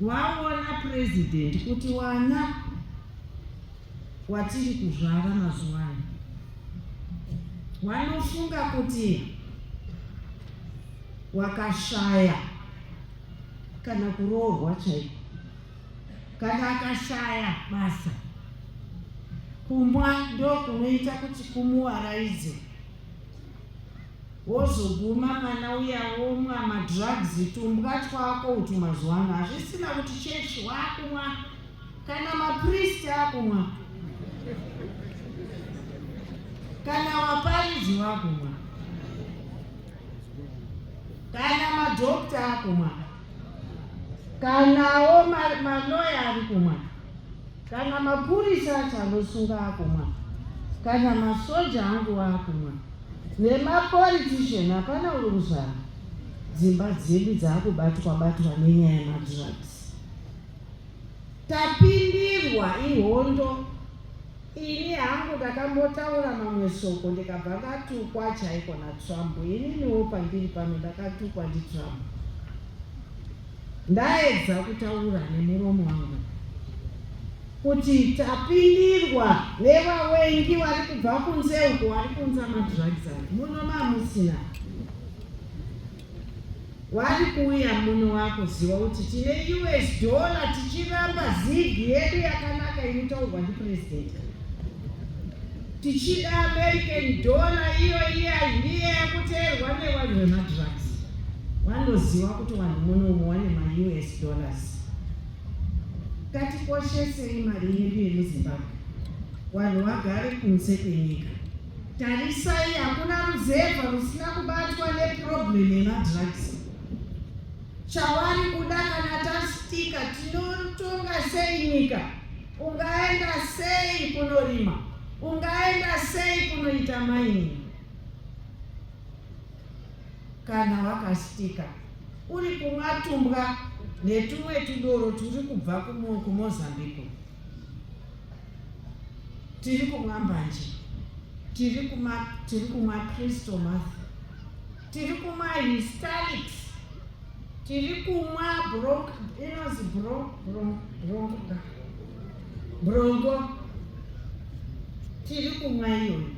Waona president kuti wana watiri kuzvara mazuva ano wanofunga kuti wakashaya kana kuroorwa chaiko, kana akashaya basa, kumwa ndokunoita kuti kumuwaraidze. Wozoguma mwana uya womwa madrugs tumbwa twako utu mazuva ano hazvisina kuti church wakumwa kana mapriest akumwa kana vaparidzi vakumwa kana madhokta akumwa kanawo maloya ari kumwa Kana mapurisa acho anosunga akumwa, kana masoja angu akumwa, nemapolitician hapana uri kuzvara. Dzimba dzedu dzakubatwa batwa nenyaya yemadrugs. Tapindirwa ihondo. Ini hangu ndakambotaura mamwe soko ndikabva ndatukwa chaiko naTrump. Ininiwo pandiri pano ndakatukwa ndiTrump. Ndaedza kutaura nemuromo wangu kuti tapindirwa nevawengi vari kubva kunze uko vari kunza madrugs avo muno mamusina wari kuuya muno wakuziva kuti tine us dollar tichiramba zigi yedu yakanaka inotaurwa ndipurezidendi Tichida American dollar iyo iye aidiye yakuteerwa nevanhu vemadrugs. Vanoziva kuti vanhu munomu wane maUS dollars. Katikoshesei mari yedu yemuZimbabwe. Vanhu vagare kunze kwenyika. Tarisai hakuna ruzevha rusina kubatwa neproblem yemadrugs. Chawari kuda kana tastika tinotonga sei nyika? Ungaenda sei kunorima? Ungaenda sei kunoita maini? Kana wakasitika uri kumwa tumbwa netumwe tudoro turi kubva kuMozambique, tiri kumwa mbanje, tiri kumwa Kristo Matha tiri kumwa histalics tiri kumwa bronc inozi bron bron bronca bronco tiri kumwa iyoyo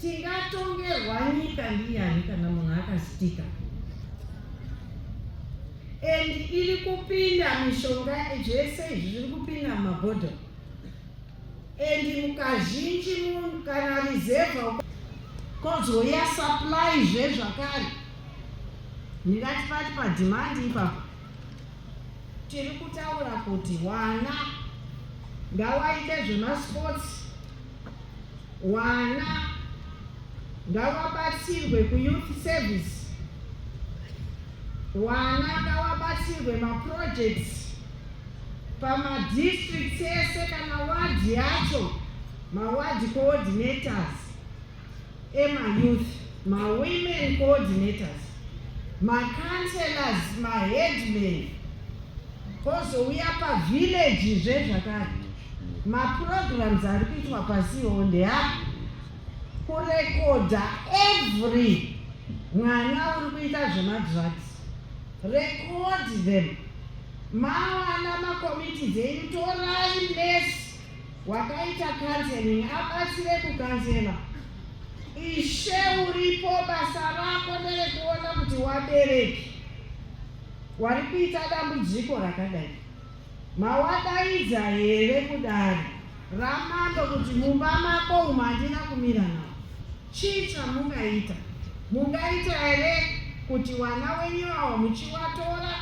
tingatongerwa nyika ndiyani kana munhu akasitika and iri kupinda mishonga zvese izvi zviri kupinda mumabhodhoro and mukazhinji munhu kana reserve kozouya supply zve zvakare ndingati pati padhimandi ipapo tiri kutaura kuti wana ngawaite zvemasports wana ngawabatsirwe kuyouth service wana ngawabatsirwe maprojects pamadistricts ese kana wadhi yacho mawadhi coordinators emayouth mawomen coordinators macounselors maheadman kozouya pavillage zve zvakare maprograms ari kuitwa pasiwo ndeapo kurekodha every mwana uri kuita zvemadrugs record them Mawana makomiti dzenyu, torai nesi wakaita kanzeling abatsire kukanzela. Ishe uripo, basa rako nderekuona kuti wabereki wari kuita dambudziko rakadai mawadaidza here kudari ramando kuti mumba mako umu handina kumira nao Chii chamungaita? Mungaita here kuti wana wenyu awa muchiwatora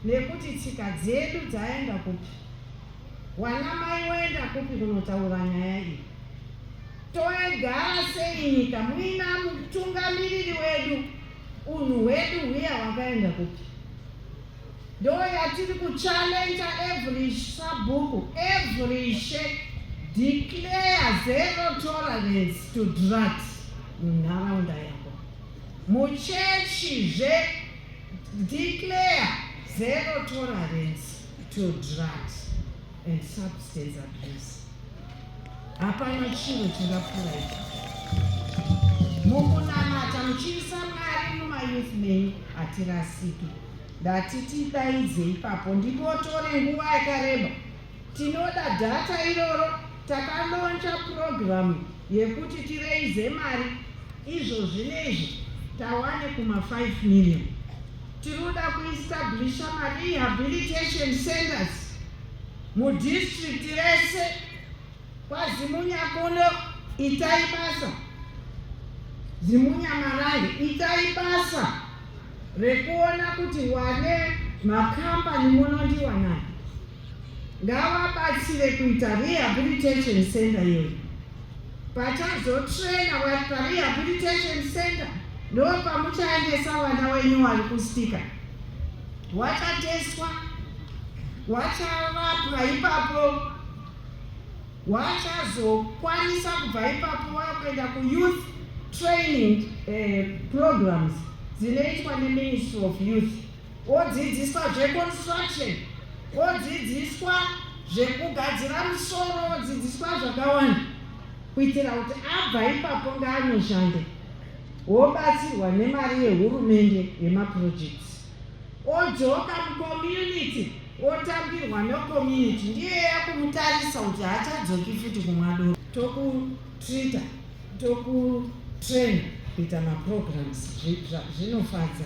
nekuti tsika dzedu dzaenda kupi? Wana mai woenda kupi kunotaura nyaya iyi? Toegara sei nyika muina mutungamiriri wedu? Unhu hwedu hwiya wakaenda kupi? ndoyatiri kuchallenge every sabhuku every she declare zero tolerance to drugs munharaunda yako muchechi zve declare zero tolerance to drugs and substance abuse Hapana chiro chingapfuura ichi. Mukunamata muchiisa Mwari mumayouth menyu hatirasiki. Ndati tidaidze ipapo ndipotore nguva yakareba. Tinoda dhata iroro takalonja purogiramu yekuti tireize mari izvo zvine izvi tawane kuma 5 million. Tinoda kuestablisha marehabilitation centers Mudistrict rese kwaZimunya kuno itai basa, Zimunya Marange itai basa rekuona kuti wane makambani munondiwanani ngavabatsire kuita rehabilitation center yedu pachazotrena vari parehabilitation center ndo pamuchaendesa vana wenyu wari kustika hwachatestwa hwacharapwa ipapo hwachazokwanisa kubva ipapo wakuenda kuyouth training eh, programs dzinoitwa neministry of youth wodzidziswa zveconstruction wodzidziswa zvekugadzira musoro wodzidziswa zvakawanda kuitira kuti abva ipapo ngaanoshande wobatsirwa nemari yehurumende yemaprojects odzoka mucommunity otambirwa necommunity ndiye yakumutarisa kuti haachadzoki futi kumwadoro tokutrita tokutrain kuita maprograms zvinofadza